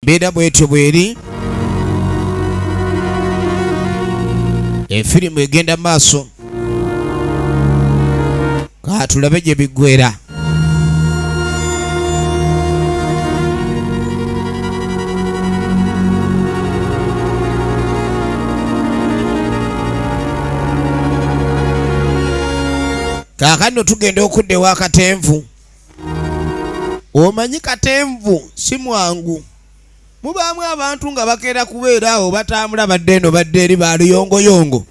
mbeera bwetyo bweri efirimu egenda maaso katulabe gye biggwera kaakano tugenda okudda ewa katenvu omanyi katenvu si mwangu mubaamu abantu nga bakeera kubeera awo batambula badde eno badde eri baluyongoyongo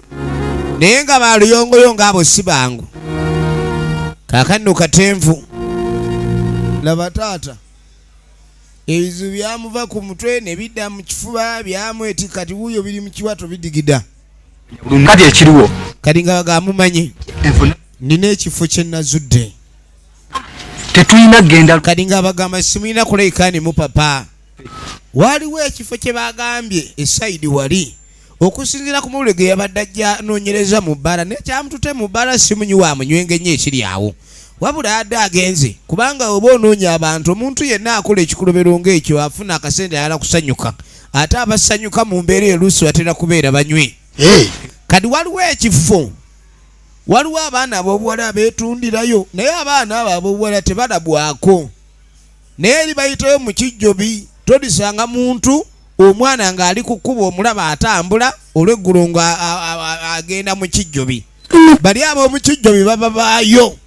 naye nga baluyongoyongo abo si bangu kakanno katenvu laba taata ebizibu byamuva ku mutwe ne bidda mu kifuba byamweti kati wuuyo biri mu kiwato bidigida kati ekiriwo kati nga bagamumanyi nina ekifo kye nazudde tetulina genda kadi nga abagamba simulina kuleikani mu papa waliwo ekifo kye bagambye esaidi wali okusinzira ku mawulire ge yabadde ajja anoonyereza mu bbala naye kyamutute mu bbala simunyi wa munywenge nnyo ekiri awo wabula adde agenze kubanga oba onoonya abantu omuntu yenna akola ekikolobero ng'ekyo afuna akasente ayala kusanyuka ate abasanyuka mu mbeera eluusi batera kubeera banywi kadi waliwo ekifo waliwo abaana abobuwala abeetundirayo naye abaana abo abobuwala tebalabwako naye eri bayitayo mu kijjobi todisanga muntu omwana ng'ali ku kkuba omulaba atambula olweggulo nga agenda mu kijjobi bali ab'omu kijjobi baba baayo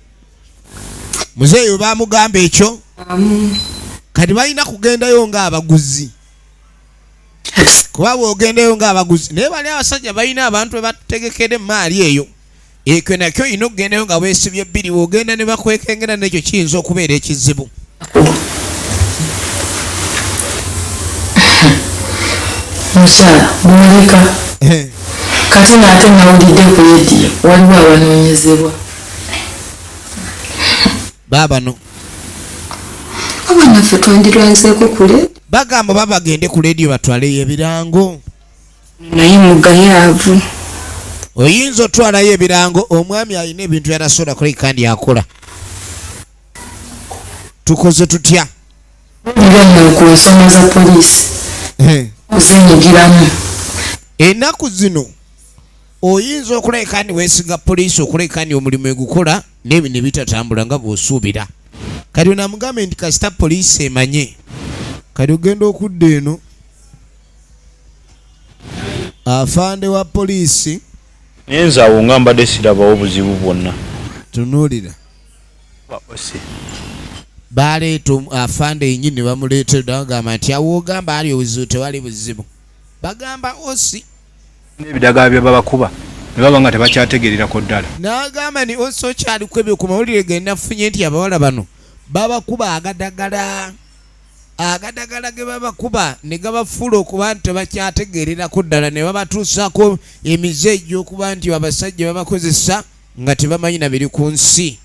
muzeeyo baamugamba ekyo kati balina kugendayo ng'abaguzi kuba bwogendeyo ngaabaguzi naye bali abasajja balina abantu bebatutegekede emaali eyo ekyo nakyo olina okugendayo nga bwesibye bbiri bwogenda ne bakwekengera nekyo kiyinza okubeera ekizibu mukyala mulika eh. kati naate nawulidde ku lediyo waliwo abanonyezebwa baabano abanaffe twandirwanzeeko kule bagamba oba bagende ku leediyo batwaleyo ebirango naye mugayaavu oyinza otwalayo ebirango omwami alina ebintu byatasobola kola kandi akola tukoze tutya ku nsonga za poliisi ozinyigiramu enaku zino Oyinza okuleka ni wesiga poliisi okuleka ni omulimu egukola nebi nebitatambula nga bwosuubira kati onamugambe nti kasita poliisi emanye kati ogenda okudda eno afande wa poliisi nyenza awo nga mbadde sirabawo buzibu bwonna tunuulira baleeta afande yenyini ne bamuleetera dagamba nti awo ogamba ali obuzibu tewali buzibu bagamba osi n'ebidagala bye babakuba ne baba nga tebakyategererako ddala. N'agamba nti Oso kyalikubye ku mawulire ge nafunye nti abawala bano babakuba agadagala agadagala ge babakuba ne gabafuula okuba nti tebakyategererako ddala ne babatuusaako emize egy'okuba nti abasajja babakozesa nga tebamanyi na biri ku nsi.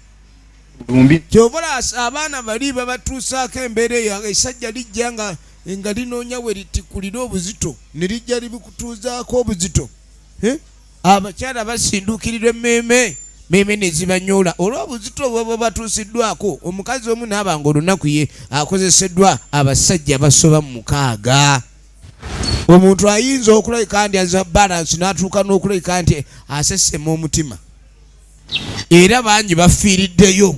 kyobola abaana bali babatuusaako embeera eyo esajja lijja nga nga linoonya we litikulira obuzito ne lijja libikutuuzaako obuzito eh? abakyala basinduukirirwa emmeeme meeme nezibanyoola olw'obuzito bwebwe batuusiddwako omukazi omu naaba nga olunaku ye akozeseddwa abasajja basoba mu mukaaga omuntu ayinza okulabika nti aza balansi n'atuuka n'okulabika nti asesema omutima era bangi bafiiriddeyo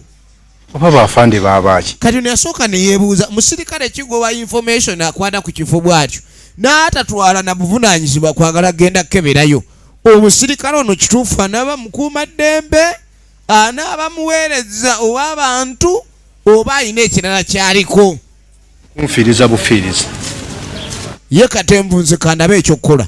oba bafande babaaki kati ono yasooka neyebuuza musirikale kigoba information akwata ku kifo bwatyo n'atatwala na buvunanyizibwa kwagala genda kukeberayo omusirikale ono kituufu anaaba mukuuma ddembe anaaba muweereza ow'abantu oba alina ekirala kyaliko kunfiiriza bufiiriza ye katemvunzikandaba ekyokukola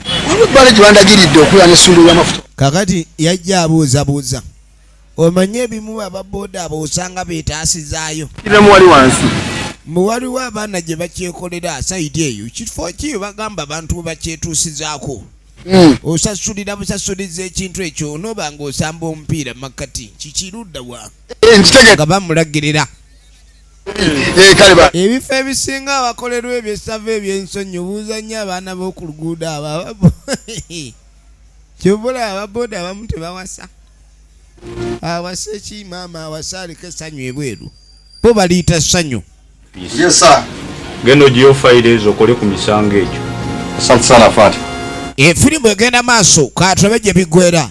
kakati yajja abuuzabuuza omanyi ebimu ababoda abo osanga betaasizaayo mbu waliwo abaana gye bakyekolera saidi eyo kifo kiyo bagamba abantu bakyetuusizaako hmm. osasulira busasuliza ekintu ekyo onoba nga osamba omupiira makkati kikiruddawa eh, nga bamulagirira Eh, eh, ebifo ebisinga abakolerwa ebyesava ebyensonyi obuuza nnyo abaana b'oku luguudo abo kyovula ababoda abamu tebawasa awasa ekimaama awasa aliko essanyu ebweru bo baliyita ssanyu genda ogiyo fayiro ezo okole ku misango egyo efirimbu egenda maaso katulabe gye biggwera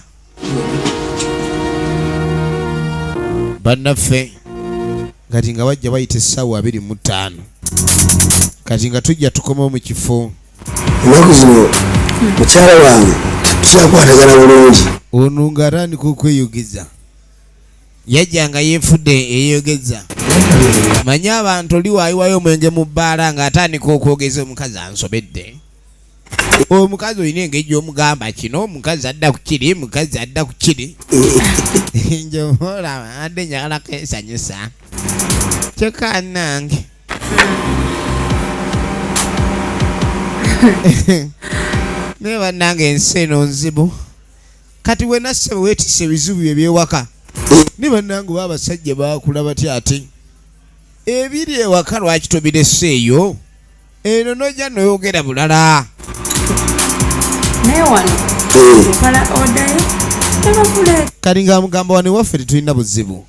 bannaffe kati nga bajja bayita essaawa abiri mu ttaano kati nga tujja tukomawo mu kifo ennaku zino mukyala wange kyakwatagana bulungi ono nga atandika okweyogeza yajja nga yeefudde eyeyogeza manye abantu oli waayiwayo omwenge mu bbaala ng'atandika okwogeza omukazi ansobedde omukazi olina engeri gyomugamba kino omukazi adda ku kiri mukazi adda ku kiri njobola adde njagala kesanyusa kyokka nange naye bannange ensi eno nzibu kati wenasse wetise ebizibu ebyewaka ne bannange oba abasajja bakula batya ate ebiri ewaka lwaki tobireseeyo eno nojja noyogera bulala kalinga mugamba wano ewaffe tetulina buzibu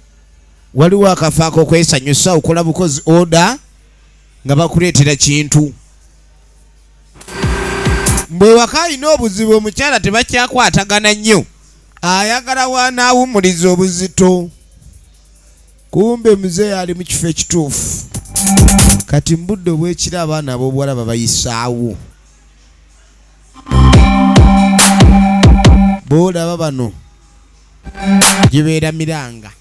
waliwo akafaako okwesanyusa okola bukozi oda nga bakuleetera kintu mbwewaka alina obuzibu omukyala tebakyakwatagana nnyo ayagala wanaawumuliza obuzito kumbe mzee ali mu kifo ekituufu kati mu budde obwekiro abaana ab'obuwala babayisaawo boolaba bano gibeeramiranga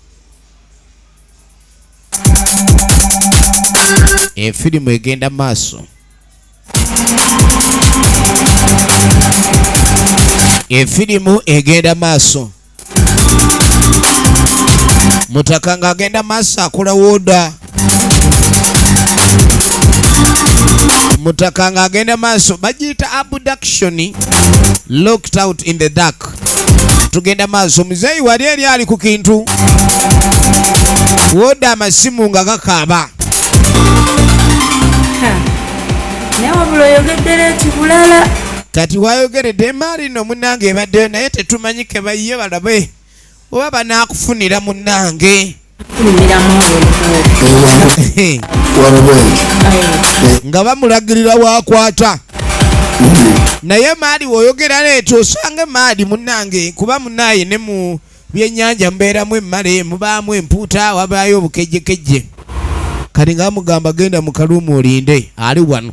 efirimu egenda maaso efirimu egenda maaso mutaka ng'agenda maaso akula woda mutaka ng'agenda maaso bagiyita abduction locked out in the dark tugenda maaso muzeeyi wali eri ali ku kintu woda amasimu nga gakaaba naye wabula oyogedde leeti bulala kati wayogeredde emaali no munange ebaddeyo naye tetumanyi kebayiye balabe oba banakufunira munange nga bamulagirira wakwata naye maali woyogera leeta osanga emaali munange kuba munaye ne mu byenyanja mubeeramu emmale mubaamu empuuta wabaayo obukejjekejje kati nga mugamba genda mukaluumu olinde ali wano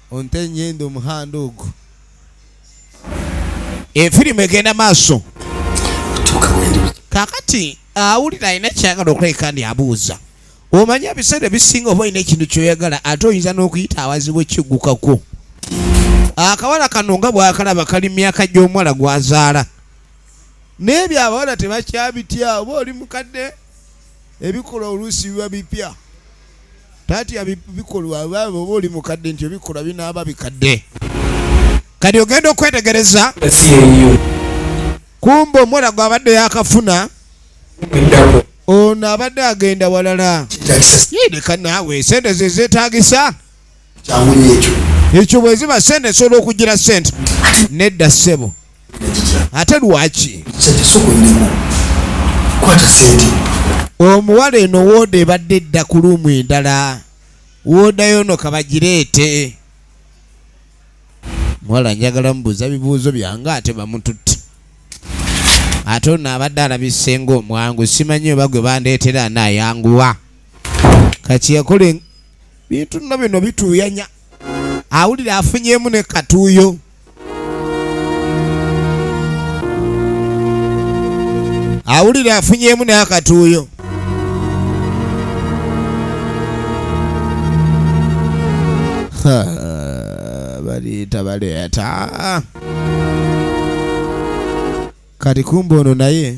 Onte nyenda omuhanda ogu. Efirimu egenda maaso. Kakati awulira alina kyagala okulabika ndi abuuza. Omanyi ebiseera ebisinga oba olina ekintu kyoyagala ate oyinza n'okuyita awazibu ekiggukako. Akawala kano nga bwakalaba kali myaka gy'omuwala gwazaala. Naye ebyo abawala tebakyabitya oba oli mukadde ebikola oluusi biba bipya. tatya bikolwa oba oli mukadde nti obikolwa binaaba bikadde kati ogenda okwetegereza kumba omwana gwabadde yakafuna ono abadde agenda walala yideka naawe sente zezetagisa kyamunye ekyo ekyo bweziba sente esobola okugira sente nedda ssebo ate lwaki omuwala eno wooda ebadde edda ku luumu endala woodayo no kabagireete muwala njagala mubuuza bibuuzo byange ate bamututte ate ono abadde alabisenga omwangu simanyi oba gwe bandeetera naayanguwa kakiyakole bintu nno bino bituuyanya awulira afunyemu ne katuuyo awulira afunyemu n'akatuuyo baleeta baleeta kati kumba ono naye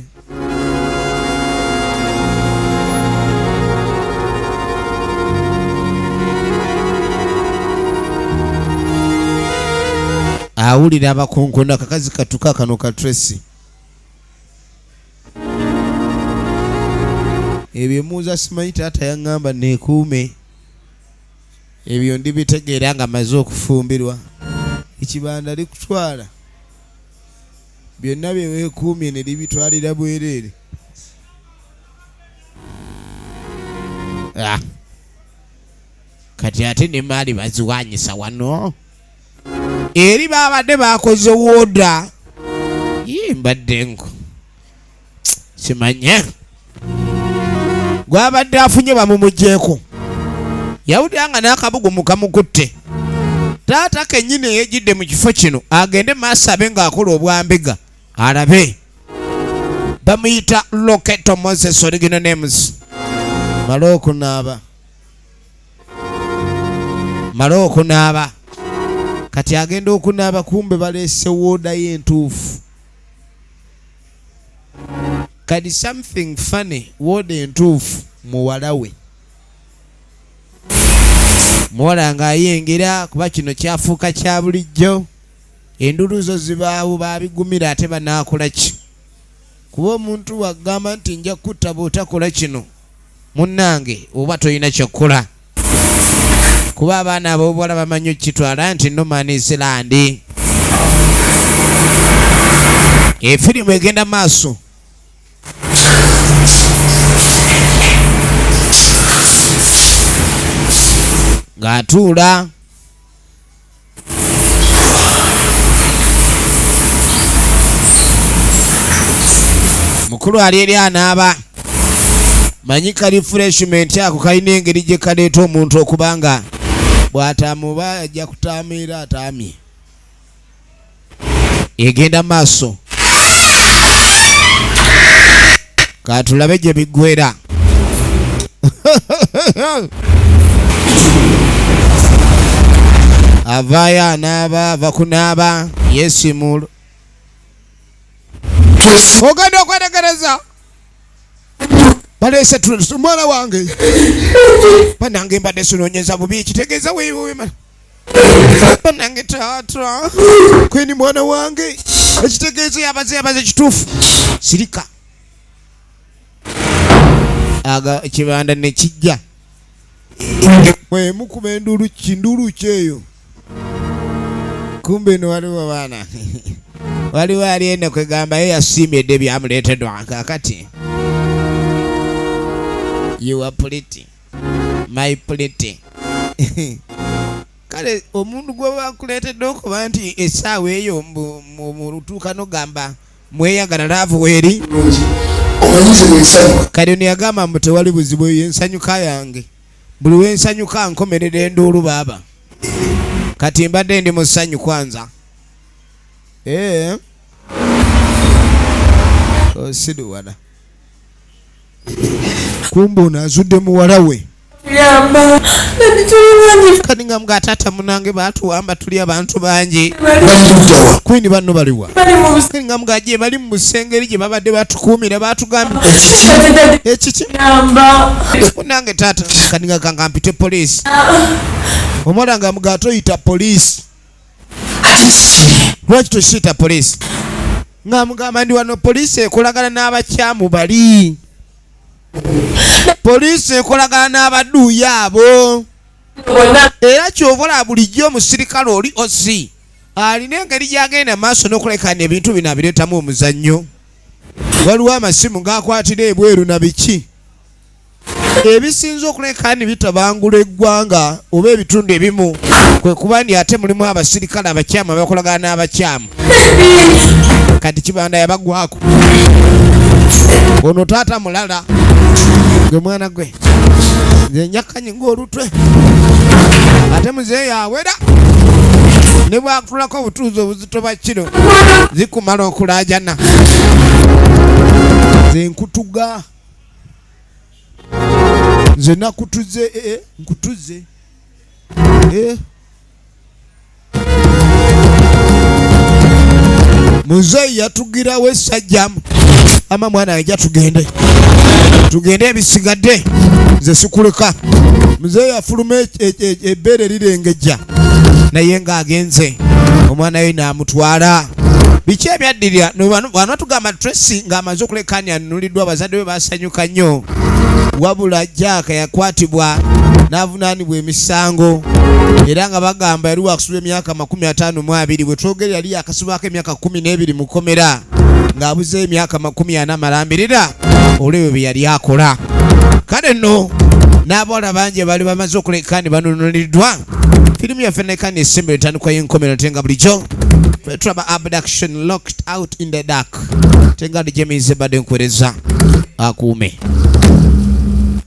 awulira abakonkona kakazi katuka kano ka tracy ebyo muza simanyi taata yaŋŋamba neekuume ebyo ndibitegeera nga maze okufumbirwa ekibanda likutwala Byonna bye weekuumye ne libitwalira bwereere. Ah. kati ate ne maali baziwanyisa wano eri baabadde baakoze wooda mbadde nku kimanye gwabadde afunye bamumugyeko yawulira nga n'akabugu mukamukutte taata kenyini eyejidde mu kifo kino agende maaso abe ng'akola obwambega alabe bamuyita loketo moses origino names male okunaaba male okunaaba kati agenda okunaaba kumbe baleese woodayo entuufu kadi something funny wooda entuufu muwala we muwala ng'ayengera kuba kino kyafuuka kya bulijjo endulu zo zibaawo babigumira ate banaakola ki kuba omuntu wagamba nti nja kutta bw'otakola kino munnange oba tolina kyokukola kuba abaana abobuwala bamanyi okukitwala nti noman isilandi efirimu egenda maaso ng'atuula mukulu ali eri anaaba manyi ka refreshment ako kalina engeri gye kaleeta omuntu okubanga bw'atamuba ajja kutaamiira ataamye egenda maaso katulabe gye biggwera avaayo anaaba ava kunaaba yesimul ogenda okwetegereza baleese omwana wange banange mbadde sinonyeza bubi kitegeeza wewema banange taata kweni mwana wange ekitegeezo yabaze yabaze kituufu sirika aga ekibanda nekijja mwemukuba enduulu kinduulu kyeyo kumbe no waliwo baana waliwo ali ene kwegamba ye yasiimye dde byamuleetedwa kakati you are pretty my pretty kale omuntu gwebakuleetedde okuba nti essaawa eyo mulutuuka nogamba mweyagala laavu weeri kale ono yagamba mbu tewali buzibu eyo ensanyuka yange buli wensanyuka nkomerera enduulu baaba kati mbadde ndi mu ssanyu kwanza ee eh? osiduwana oh, kumbe ono azudde muwala we kati nga mga taata munange batuwamba tuli abantu bangi kwini banno baliwa kati nga mga gye bali mu busengeri gye babadde batukuumira batugambye ekiki munange taata kati nga kanga mpite poliisi omwana nga mga atoyita poliisi lwaki tusiita poliisi nga mugamba ndi wano poliisi ekolagana n'abakyamu bali poliisi ekolagana n'abaduuyi abo era kyobola bulijjo omusirikale oli osi alina engeri gyagenda maaso n'okulekana ebintu bino abireetamu omuzannyo waliwo amasimu gaakwatira ebweru na biki ebisinze okuleka kandi bitabangula eggwanga oba ebitundu ebimu kwe kuba nti ate mulimu abasirikale abakyamu abakolagana n'abakyamu kati kibanda yabagwako ono taata mulala gwe mwana gwe nze njakanyi ng'olutwe ate muzeeyi yawera ne bwakutulako obutuuzi obuzito bwa kino zikumala okulaajana zenkutuga nze nakutuze eh, eh, nkutuze eh. muzeeyi yatugirawo esajjamu ama mwana yaja tugende tugende ebisigadde nze sikuleka muzeeyi afuluma ebbeere e, e, e, lirengejja naye ng'agenze omwana we n'amutwala biki ebyaddirira bwana tugamba tracy ng'amaze okulekaani anunuliddwa abazadde be basanyuka nnyo wabula jaaka yakwatibwa n'avunaanibwa emisango era nga bagamba yali wakusula emyaka makumi ataano mu abiri bwe twogere yali yakasibwako emyaka kumi n'ebiri mu kkomera ng'abuze emyaka makumi ana amalambirira olwebyo bye yali akola kale nno n'abawala bangi abaali bamaze okuleka ne banunuliddwa firimu yaffe neka nesimba etandikwa y'enkomero te nga bulijjo fetulaba abduction locked out in the dark te nga dijemiize badde nkuwereza akuume